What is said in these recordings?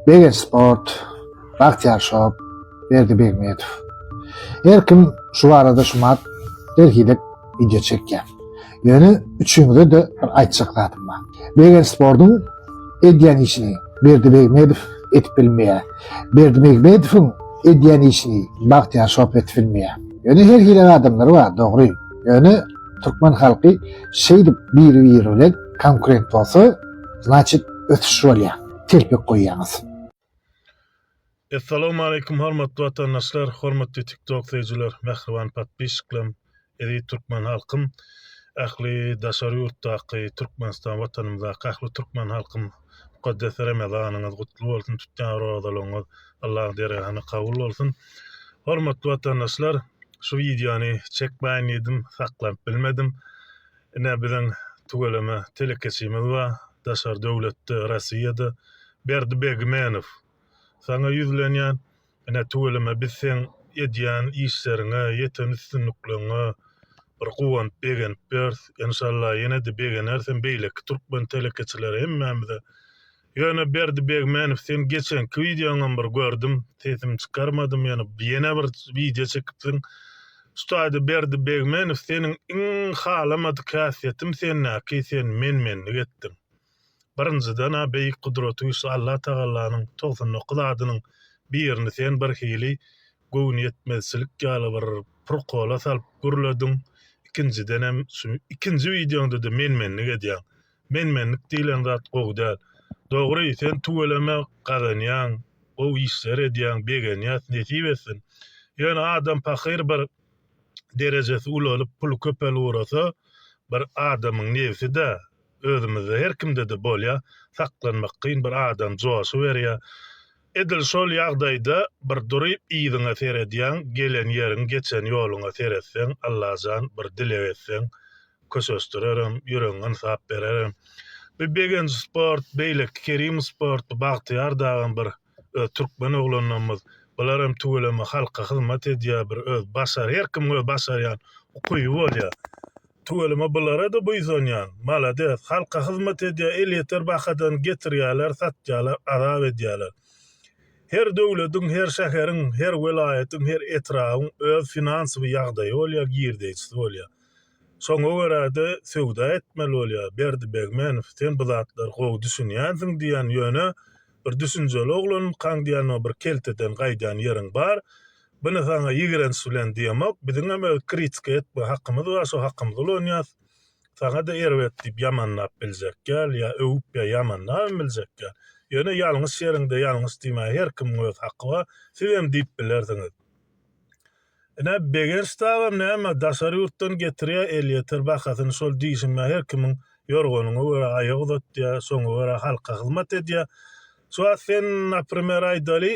Begenç Sport, Bagtyýar Shop, Berdi Begmetow. Her kim şu barada şumat derhidek wideo çekýär. Ýöne üçüňize-de bir aýtjak zadym bar. Begenç Sportuň edýän işini Berdi Begmetow edip bilmeýär. Berdi Begmetowyň edýän işini Bagtyýar Shop edip bilmeýär. Ýöne her hili adamlar bar, dogry. Ýöne türkmen halky şeýdip biri-biri bilen konkurent bolsa, znaçit ösüş bolýar. telpek goýýaňyz. Essalawmaleýkum hormatly watandaşlar, hormatly tiktok söýüjiler, mähriban podpisçiklerim, eziz türkmen halkym, ähli daşary ýurtdaky Türkmenistan watanymyzdaky ähli türkmen halkym mukaddes Ramazanyňyz gutly bolsun, tutýan rozalaryňyz Allaň dergahynda kabul bolsun. Hormatly watandaşlar, şu wideony çekmäýin diýdim, saklanyp bilmedim. Ine biziň tüweleme telekeçimiz bar daşary döwletde Rossiýada Berdi Begmenow saňa ýüzlenýän ine tüweleme biz seň edýän işleriňe ýeten üstünlikleňňe bir guwanyp begenip ýörüs enşalla ýenede begeneris hem beýleki türkmen telekeçileri hemmämize Ýöne Berdi Begmenow seň geçenki wideoňam bir gördüm sesimi çykarmadym ýöne ýene bir wideo çekipsiň Ustaýda Berdi Begmenow seniň iň halamadyk häsiýetim sendäki sen men menlik etdiň birinjiden a beýik gudraty güçli Allah tagallanyň togsan dokuz adynyň birini sen bir hili göwnüýetmezçilik ýaly bir prkola salyp gürlediň ikinjidenem şu ikinji wideoňdada men menlik edýäň Menmenlik diýlen zat gowy däl. Dogry sen tüweleme gazanýaň gowy işler edýäň begenýäs nesip etsin. Ýöne adam pahyr bir derejesi ulalyp puly köpelip ugrasa bir adamyň nebside özümizde her kimdede bolýa saklanmak kyn bir adam joşuberýä Edil şol ýagdaýda bir duryp yzyňa seredýäň, gelen ýeriň, geçen ýoluňa seretseň, Allajan bir dileg etseň, köşeşdirerem, ýüregiňi ynsap bererem. Bu Begenç sport, beýleki Kerim sport, bu Bagtyýar dagam bir öz türkmen oglanlarymyz. Bularam tüweleme halka hyzmat edýär, bir öz başar, her kimiň öz başarýan ukyby bolýar. Tüweleme bulara-da buýsanýan. Malades, halka hyzmat edýär, elýeter bahadan getirýärler, satýarlar, azap edýärler. Her döwlediň, her şäheriň, her welaýatyň, her etrabyň öz finansowy ýagdaýy bolýar, girdeýjisi bolýar. Şoňa görä-de söwda etmeli bolýar. Berdi Begmenow, sen bu zatlara gowy düşünýänsiň diýýän, ýöne bir düşünjeli oglankaň diýýän, bir kelteden gaýdýan ýeriň bar. Buny saňa ýigrenç bilen diýemok, biziňem öz kritika etme hakymyz bar, şo hakymyzy ulanýas. Saňa-da erbet diýip ýamanlap biljek däl, ýa öwüp ýa ýamanlabam biljek däl. Ýöne ýalňyş ýeriňde ýalňyş diýmäge her kimiň öz haky bar, sizem diýip bilersiňiz. Ine, Begenç dagam näme, daşary ýurtdan getirýär, elýeter bahasyny şol diýşime her kimiň ýorganyňa görä aýak uzatýar, şoňa görä halka hyzmat edýär. Şu wagt sen, naprimer, aýdaly,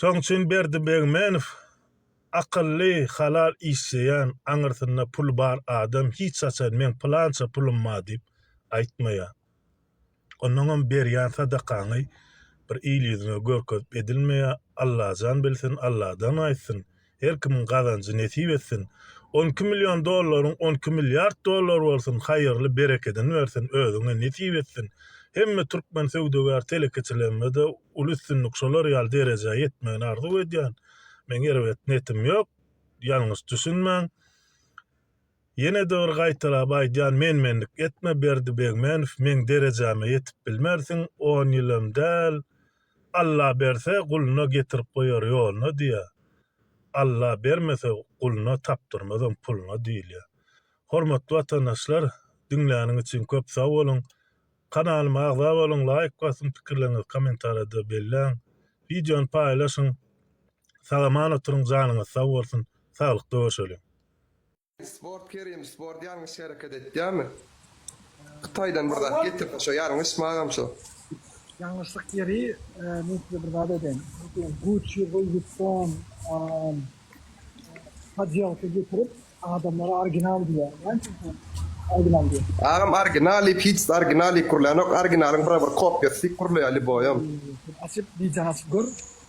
Şoň üçin Berdi Begmenow akylly, halal işleýän, aňyrsynda puly bar adam hiç haçan meň pylança pulum bar diýip aýtmaýar. Onnoňam berýän sadakaňy bir il ýüzüne görkezip edilmeýär. Allajan bilsin, Alladan gaýtsyn. Her kimiň gazanjy nesip etsin. On iki million dollaryň on iki milliard dollar bolsun haýyrly berekedini bersin özüňe nesip etsin hemme türkmen söwdagär telekeçilermede uly üstünlik şolar ýaly derejä ýetmegini arzuw edýän meň erbet netim ýok ýalňyş düşünmäň. Ýene dygr gaýtalap aýdýan menmenlik etme Berdi Begmenow meň derejäme ýetip bilmersiň on ýylam däl Alla berse guluna getirip goýar ýoluna diýýär Alla bermese guluna tapdyrmazam puluna diýilýär Hormatly watandaşlar diňläniň üçin köp sag boluň kanalyma agza boluň laýk basyň pikirleriňizi komentarýada belläň wideony paýlaşyň sagaman oturyň janyňyz sag bolsun saglykda görşeliň. Sport kerim sport ýalňyş hereket etýämi hytaýdan bir zat getirip şo ýalňyş magam şo. Ýalňyşlyk ýeri men size bir zat aýdaýyn gucci louis vuitton podýelka getirip adamlara original diýýär näçe sen original diýýär. Agam original diýip hiç original diýip gurlanok originalyň bira bir kopýasy diýip gurlaýar lýuboýam. Açyp widýony açyp gör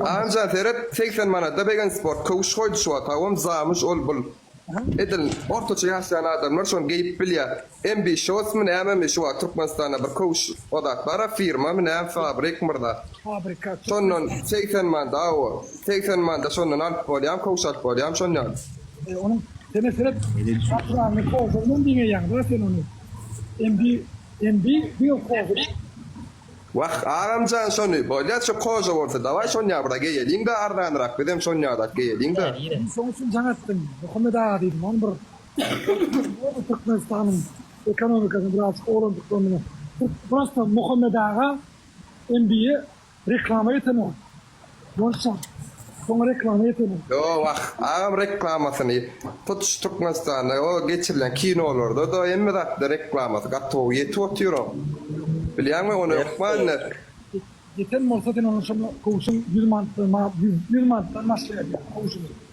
Anja seret segsen manada begensport köwüş goýdy şu wagt hawam zamyş ol bul edil ortaça ýaşaýan adamlar şony geýip bilýä MB shorts my nämemi şu wagt türkmenistanda bir köwüş o zat bara firmamy näme fabrik myrza şondan segsen manda aw segsen manda şondan alyp bolýam köwüş alyp bolýam şon ýaly. E onuň sene seret gatyranyny kozagynam diňeýäňda sen ony MB MB diňe kozag. Wah, agamjan şony, bolýa şu koža bolsa, daway şonýa bir-a geýeliň-dä arzanyrak, bizem şonýa-da-ak geýeliň-dä. Men şoň üçin jaň etdim, Muhammet aga diýdim, oň bir bolsa Türkmenistanyň ekonomikasyny birazjyk oglandyklaryny, prosto Muhammet aga MBA reklama ýetenok. Bolsa, soňa reklama ýetelim. Ýoo wah, agam reklamasyny hut şu Türkmenistanda o geçirilen kinolarda-da hemme zatda reklamasy gaty gowy ýetip otyr oň. Bilýäňmi ony hökman ýet. Ýeten bolsa sen onuň şonda kowşuň ýüz manatdan ýüz manatdan başlaýar ýaly kowşuny.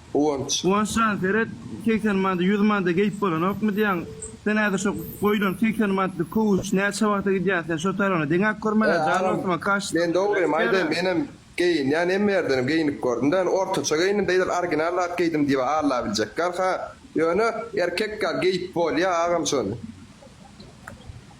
Guwanç. Guwanç jan seret segsen manada ýüz manada geýip bolanokmy diýýäň sen häzir şo goýlan segsen manatlyk kowuş näçe wagta gidýär sen şo tarybyny deňäp görmän He jan agam dostum a kaş men dogrymy aýdaýyn menem geýinýän hemme ýerdenem geýnip gördüm dä ýöne ortaça geýindim dä edil original zat geýdim diýip alabiljek ýaly ha ýöne erkek ýaly geýip bolýa agam şony.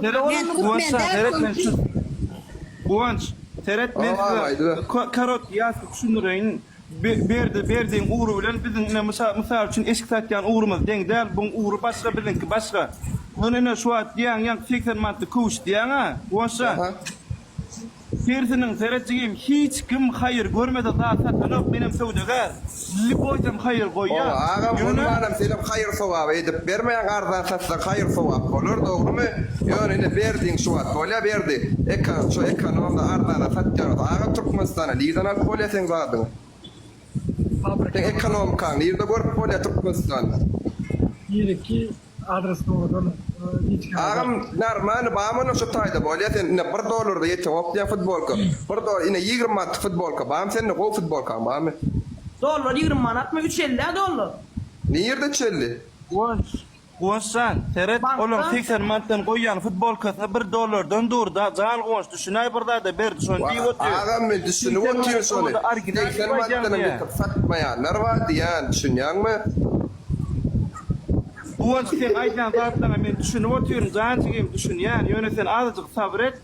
Seret Men Guwanç türkmen saňa däl seret men şu köňküs. Guwanç seret men Oba, size aýdyber. ko- korotki ýazky düşündireýin. Be- Berdi Berdiň ugry bilen biziň ine mysa- mysal üçin eşik satýan ugrumyz deň däl. Buň ugry başga biziňki başga. Ýöne ine şu wagt diýýäň ýaňky segsen manatly köwüş diýýäň-ä Guwanç jan. Aha. Sersiniň, seret jigim, hiç kim haýyr görmese zat satanok, menem söwdagär. Lli goýsam haýyr goýýar. Oba agam bolmanam senem haýyr sowaby edip bermäň arzan satsaň haýyr sowap bolar dogrymy ýöne ine berdiň şu wagt bolýa berdi eka şo ekonomda arzana satýaňyz aga türkmenistana nirden alyp bolýa seň zadyňy. Seň ekonomikaňy nirde görüp bolýa Türkmenistanda. Nireki adres dogrudan hiç kim. Agam normalny bamy olar şu taýda bolýa sen ine bir dollarda ýeteňok diýýän futbolka bir dolar ine ýigrimi manatlyk futbolka bamy sende gowy futbolkaň bamy. Dollar ýigrimi manatmy üç elli-ä dollar. Nirde üç elli. Wooy. Guwanç jan, seret, olaň segsen manatdan goýýan futbolkasyna bir dollardan dur-da, jan Guwanç, düşünäý bir zada, Berdi şony diýip otyr. Wah, agam, men düşünip otyryn şony, segsen manatdanam ýykyp satmaýanlar bar diýýän, düşünýäňmi? Guwanç, seň aýdýan zatlaryňa men düşünip otyryn, jan jigim, düşünýän, ýöne sen azajyk sabyr et.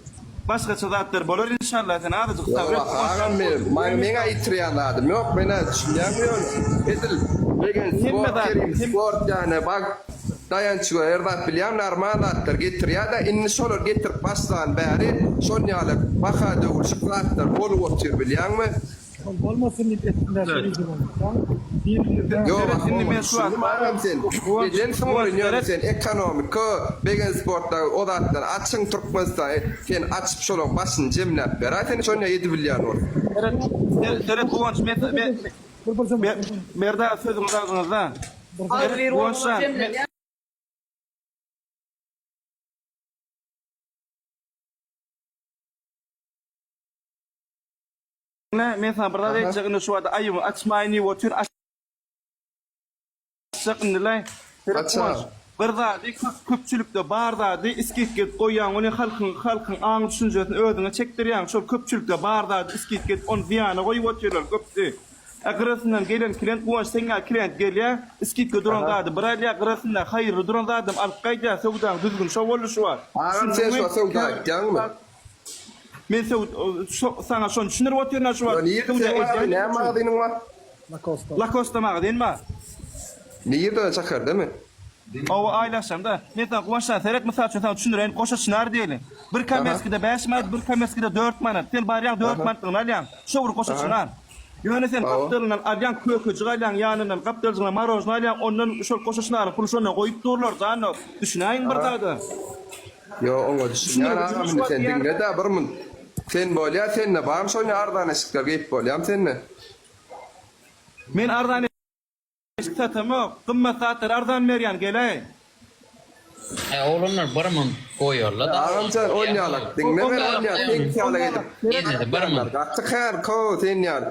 Başgaça zatlar bolar inşallah sen azajyk sabr et. Ýok agam menem maňa meň aýytyrýan zadym ýok menä düşünýäňmi ýöne edil legend sport kerim sport ýane bag daýançly her zat bilýän narmal zatlar getirýädä indi şolar getirip başlan bäri şonýale baha döwülşik zatlar bolup otyr bilýäňmi Ol bolmasyn diýip etdiler şol işi bolmasa. Ýok ahun muny düşündim agam sen ejen suň oýun ýöne sen ekonomika begen sportda o zatlar açyň türkmenistan sen açyp şolaň başyny jemläp beraý sen şonda edibilýän bolup. Seret seret guwanç berdi aga sözüňiz agzyňyzda seret guwanç jan. Diňle, men saňa bir zat Aha. aýtjak, indi şu wada aýybyňy açmaýyn diýip otur, aç- açjak indi-le. Ýöre, Aç-a. Guwanç, bir zady köp, köpçülikde bar zady isgit gezip goýýaň, ony halkyň, halkyň aň-düşünjesini özüňe çekdirýäň, şol köpçülikde bar zady isgit gezip, ony zyýana goýup otyrlar, köpdi. A gyrasyndan gelen klient, Guwanç, seň ýaly klient gelýär, isgitge duran Aha. zady bir alýar, gyrasynda haýyrly duran zadam alyp gaýdýar, söwdaň düzgüni şo boldy şu wagt. Agam, sen şu wagt söwda aýtýaňmy? Men söwd saňa şony düşündirip otyryn-a şu wagt. Söwda edýän ýeriň üçin. Lakosta. Lakosta magazin bar. Ne ýerde şäherdemi? Oba aýlaşanda. Men saňa Guwançjan seret mysal üçin saňa düşündireýin goşa çynar diýeli. Bir komerskide bäş manat bir komerskide dört manat. Sen barýaň dört manatlygyny alýaň. Şo bir goşa çynar. Ýöne sen gapdalyndan alýaň kökejik alýaň ýanyndan gapdaljygyna marožna alýaň ondan şol goşa çynaryň puly şonda goýup durlar janok. Düşünäýiň bir zada. Ýo oňa düşünýän agam indi sen diňledä bir munt sen bolýa sende barmy şony arzan eşikler geýip bolýamy sende. Men arzan eşik satamok gymmat zatlary arzan berýän geleý. He oglanlar bir munt goýarla da. Agamjan onýalak diňle men onýa teňki ýaly edip. Ýene de bir munt. Gaty kän köw sen ýaly.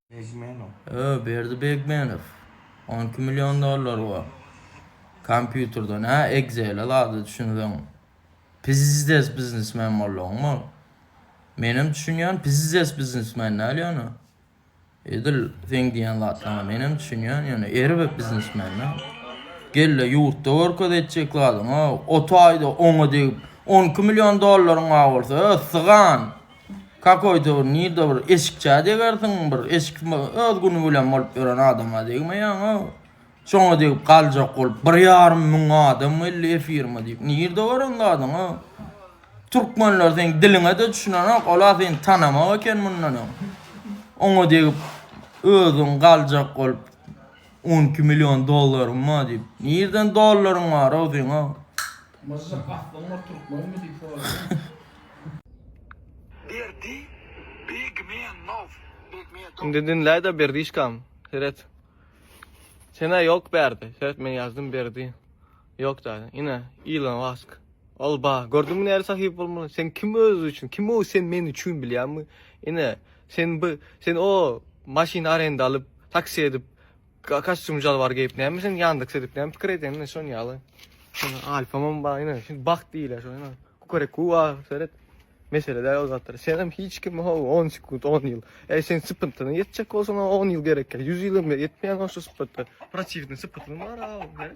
Öö Berdi Begmenow. On iki million dollar bar. Kompýuterden hä Excel-e zada düşünseň. Pizdes biznesmen bolduň ol. Menem düşünýän pizdes biznesmen däl ýöne. Edil seň diýen zatlaryňa menem düşünýän ýöne erbet biznesmen däl. Gelle ýurtda görkez etjek zadyňy. Ot aýda oňa degip 12 million dollaryň bar bolsa, öö, sygan. Kakoýda bir nirde bir eşikçä degersiň, bir eşik öz güni bilen bolup ýören adama degmeýäňow. Şoňa degip galjak bolup bir ýarym müň adam geldi efirime diýip. Nirde bar oň zadyňow? Türkmenler seň diliňe-de düşünenok, ola seni tanamok eken mundan öň. Oňa degip özüň galjak bolup 12 million dollaryň bar diýip. Nirden dollaryň bar-ow seňow? Myžžyk aslyň bir türkmenmi diýip soraýyn. Berdi Begmenow Begmedow. Indi diňläýda Berdişkam seret. Senä ýok Berdi. Seret men ýazdym Berdi. Ýok däli. Ine Ilon Mask. Ol ba. Gördüňmi näre sahyp bolmaly. Sen kim özi üçin. Kim o sen men üçin bilýäňmi. Ine sen bi sen o maşyn arenda alyp taksi edip. Kostyum jalbar geyip näme sen Yandex edip näme pikir edin ne şon yalı. Alfamam bar ine şimdi bak diyle şon ine. Kukarek kuva seret. Mesele de o zatlar. Sen hem hiç kim ho 10 sekund 10 yıl. E sen sıpıntına yetecek olsan 10 yıl gerek. 100 yıl hem yetmeyen o şu sıpıntı. Protivni sıpıntını var abi.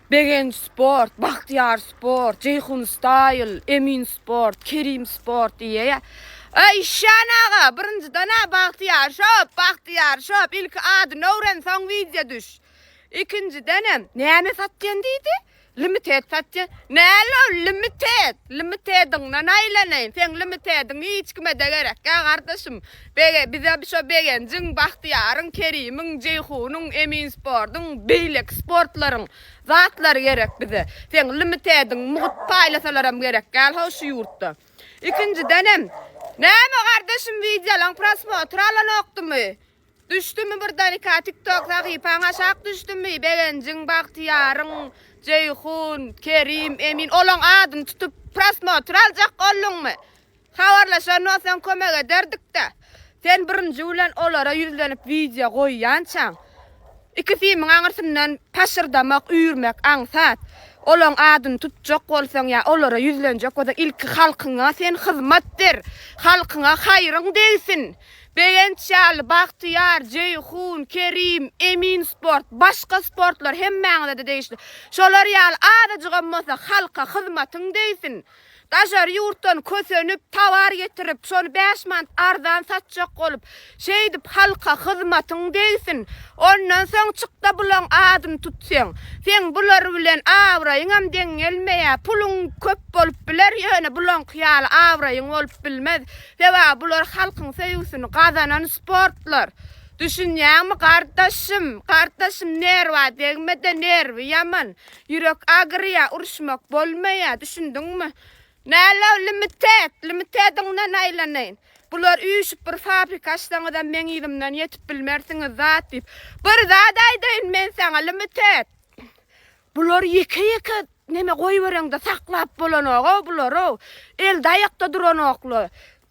Begenç sport, Bagtyýar sport, Jeýhun staýl, Emin sport, Kerim sport diýýä. Öý işýän aga, birinjiden-ä Bagtyýar shop, Bagtyýar shop, ilki adyny öwren, soň wideo düş. Ikinjidenem, näme satýan diýdi? Limited satýan. Näl ol limited? Limitediňden aýlanaýyn. Seň limitediň hiç kime-de gerek ýa gardaşym. Bege, bize şo Begenjiň, Bagtyýaryň, Kerimiň, Jeýhunyň, Emin Sportuň, beýleki sportlaryň zatlary gerek bize. Seň limitediň mugt paýlasalaram gerekgäl-how şu ýurtda. Ikinjidenem, näme gardaşym wideolaň prosmotr alanokdymy? Düşdümi birdenkä tiktok sahypaň aşak düşdümi? Begenjiň, Bagtyýaryň, Jeýhun, Kerim, Emin olaň adyny tutup prosmotr aljak olduňmy? Habarlaşan bolsaň kömek ederdik-dä. Sen birinji bilen olara ýüzlenip wideo goýýançaň, iki simiň aňyrsyndan paşyrdamak, üýrmek aňsat. Olaň adyny tutjak bolsaň ýa olara ýüzlenjek bolsaň ilki halkyňa sen hyzmat ber. Halkyňa haýryň degsin. Begenç ýaly, Bagtyýar, Jeýhun, Kerim, Emin sport, başga sportlar hemmäňize-de degişli. Şolar ýaly azajygam bolsa halka hyzmatyň degsin. Daşary ýurtdan kösenip, towar getirip, şony bäş manat arzan satjak bolup, şeýdip halka hyzmatyň degsin. Ondan soň çyk-da bulaň adyny tut seň. Seň bular bilen abraýyňam deň gelmeýär. Puluň köp bolup biler, ýöne bulaňky ýaly abraýyň bolup bilmez. Sebäbi bular halkyň söýgüsini gazanan sportlar. Düşünýäňmi gardaşym? Gardaşym nerwa degme-de, nerwi ýaman. Ýürek agyrýa uruşmak bolmaýa düşündiňmi. Nälo limited limitediňden aýlanaýyn. Bular üýşüp bir fabrika açsaňyzam meň yzymdan ýetip bilmersiňiz zat diýip. Bir zat aýdaýyn men saňa limited. Bular ýeke ýeke neme goýbereňde saklap bolanogow bularow. Elde aýakda duranoklar.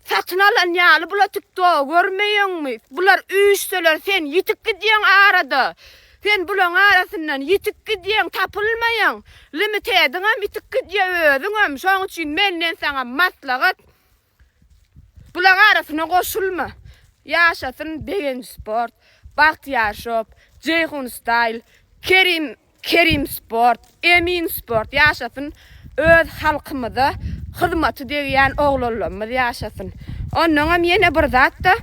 Satyn alan ýaly bula tikto görmeýeňmi bular üýşseler sen ýitik gidýeň arada sen bulaň arasyndan ýitik gidýeň tapylmaýaň limitediňem ýitik gidýe özüňem şoň üçin menden saňa maslahat bulaň arasyna goşulma ýaşasyn begenc sport bagtyýar shop jeýhun style kerim Kerim sport, Emin sport ýaşasyn öz halkymyza hyzmaty degýän oglanlarymyz ýaşasyn. Onnoňam ýene bir zatda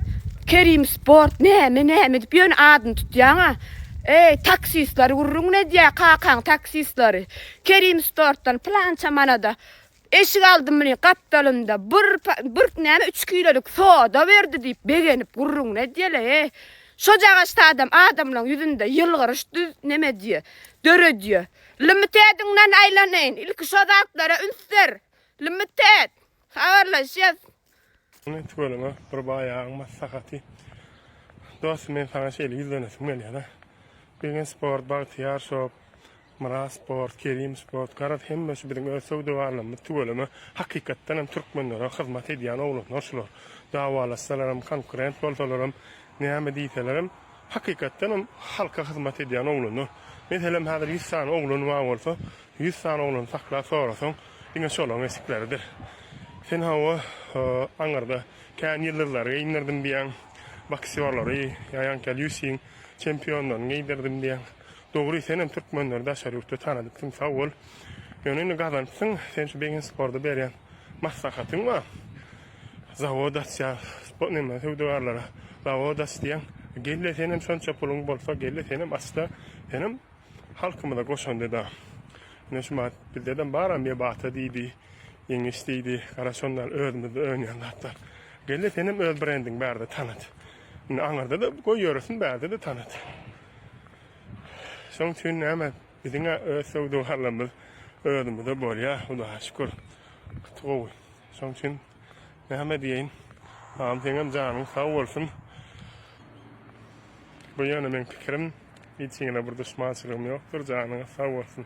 Kerim sport näme näme edip ýöne adyny tutýaňa eý taksistleri gürrüňini edýä kakaň taksistleri Kerim sportdan pylança manada Eşik aldymy gapdalynda bir bir näme üç kilolik soda berdi diýip begenip gürrüňini edýäle-e. Şojagaçda adam adamlaň ýüzünde ýylgyryş düz näme edýä, döredýä. Limited-iňden aýlanaýyn, ilki şo zatlara üns ber. Limited, habarlaşýas. Ine tüweleme bir baýagyň maslahaty. Dostum men saňa şeýle ýüzlenesim gelýär-a. Bilgin sport, Bagtyýar shop, Myrat sport, Kerim sport, garaz hemmesi biziň öz söwda barlamyz tüweleme hakykatdan hem türkmenlere hyzmat edýän oglanlar şular. Dawalaşsalaram, konkurent bolsalaram, näme diýselerem Hakykatdan hem halka hyzmat edýän oglanlar. Meselem häzir ýüz sany oglany bar bolsa, ýüz sany oglany saklap sorasaň, diňe şolaryň esikleridir. Sen hawa, aňyrda kän ýyldyzlary geýindirdim diýýäň, boksýorlary, ýa ýaňky UFC-iň çempionlaryny geýdirdim diýýäň. Dogry, sen hem türkmenleri daşary ýurtda tanadypsyň, sag bol. Ýöne indi gazanypsyň, sen şu Begensporda berýän Maslahatyň bar. Zawod açýas. Bu näme söwdagarlara. Zawod aç diýýäň. Gel-le senem şonça puluň bolsa gel-le senem aç-da. Senem halkymyza goşandy-da. Ine şu mahat bizde-de bar-a Mebata diýdi. Ýeňiş diýdi. Gara şonlar özümizde önýän zatlar. Gel-le senem öz brendiňi bärde tanat. Indi aňyrda-da goý ýöresin bärde-de tanat. Şoň üçin näme. Biziň-ä öz söwdagarlarymyz özümizde bolýar, Hudaýa şükür, gaty gowy. Şoň üçin näme diýeýin, agam seňem janyň sag bolsun. Bu ýöne meň pikirim, hiç kime bir duşmançylygym ýokdur, janyňyz sag bolsun.